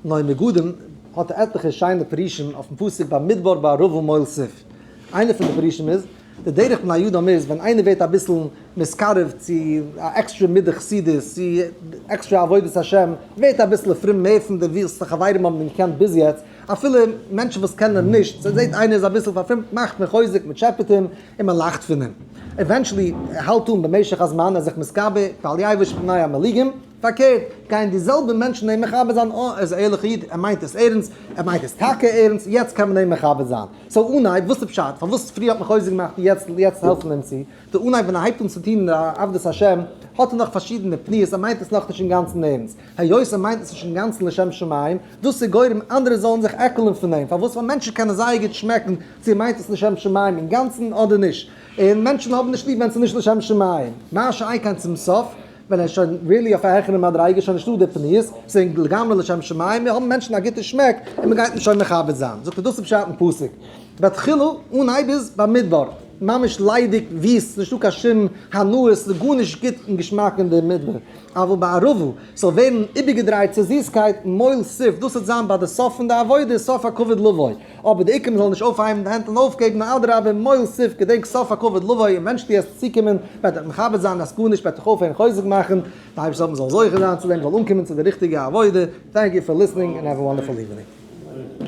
נוי נגדים האט עטליכע שיינע פירושים אויפן פסוק במדבר בערבה מול סוף. איינע פון די פירושים איז, די דרך בני אדם איז ווען איינער ווערט אביסל נתקרב צו א עקסטרע מידה חסידות, צו עקסטרע עבודת השם, ווערט אביסל פרום מער פון די ווילסטע חברים האבן אים געקענט ביז יעצט, אפילו מענטשן וואס קענען אים נישט, זיי זעט איינער איז אביסל פארפרומט מאכט מען חוזק, מען טשעפעט אים, און מען לאכט פון אים. עווענטשעלי ער האלט אן במשך הזמן, ער איז זיך מתגבר, ואל יעבוש פני עמלקים. פארקערט, גייען די זעלבע מענטשן אים מכבד זיין, אה, ער איז א ערליכע איד, ער מיינט עס ערנסט, ער מיינט עס טאקע ערנסט, יעצט קען מען אים מכבד זיין. סאו אן אייב, וואס איז פשט? פארוואס פריער האט מען חוזק געמאכט און יעצט יעצט העלפט מען אים צו? די אן אייב ווען ער הייבט אן צו טון עבדות השם, האט ער נאך פארשידענע פניות, ער מיינט עס נאכנישט אינגאנצן ערנסט. היות ער מיינט עס נישט אינגאנצן לשם שמים, דאס איז גורם אנדערע זאלן זיך עקלען פון אים, פארוואס? ווייל מענטשן קענען זייער גוט שמעקן צו ער מיינט עס לשם שמים אינגאנצן אדער נישט, און מענטשן האבן נישט ליב ווען ס'איז נישט לשם שמים. מה שאין כן צום סוף, ווען ער איז שוין ריעלי אויף א העכערע מדריגה איז שוין נישטא די פניות, ס'איז לגמרי לשם שמים, מיר האבן מענטשן א גוטע שמעק און מען גייט אים שוין מכבד זיין, זאגט ער דאס איז פשט אין פסוק, בהתחלה אנהייב איז במדבר ממש ליידיג וויסט, נישטא קיין שום הנאות, ס'איז גארנישט גוט און געשמאק אין די מדבר, אבל בערבה ס'זאל ווערן איבערגעדרייט צו זיסקייט, מויל סוף, דאס וועט זיין ביי די סוף פון די עבודה, סוף הכבוד לבוא. אבער די עיקרים זאלן נישט אויפהייבן די הענט און אויפגעבן, נאר אדרבה מוהל סיף געדענק סוף הכבוד לבוא און ווען שטייסט צוקומען וועט דיך מכבד זיין אז גארנישט וועט דיך אויפהערן חוזק מאכן, די אייבערשטער זאל מען זאל זוכה זיין צו דעם זאל אנקומען צו די ריכטיגע עבודה, טענק יו פאר ליסטענינג און העוו א וואנדערפול איווענינג.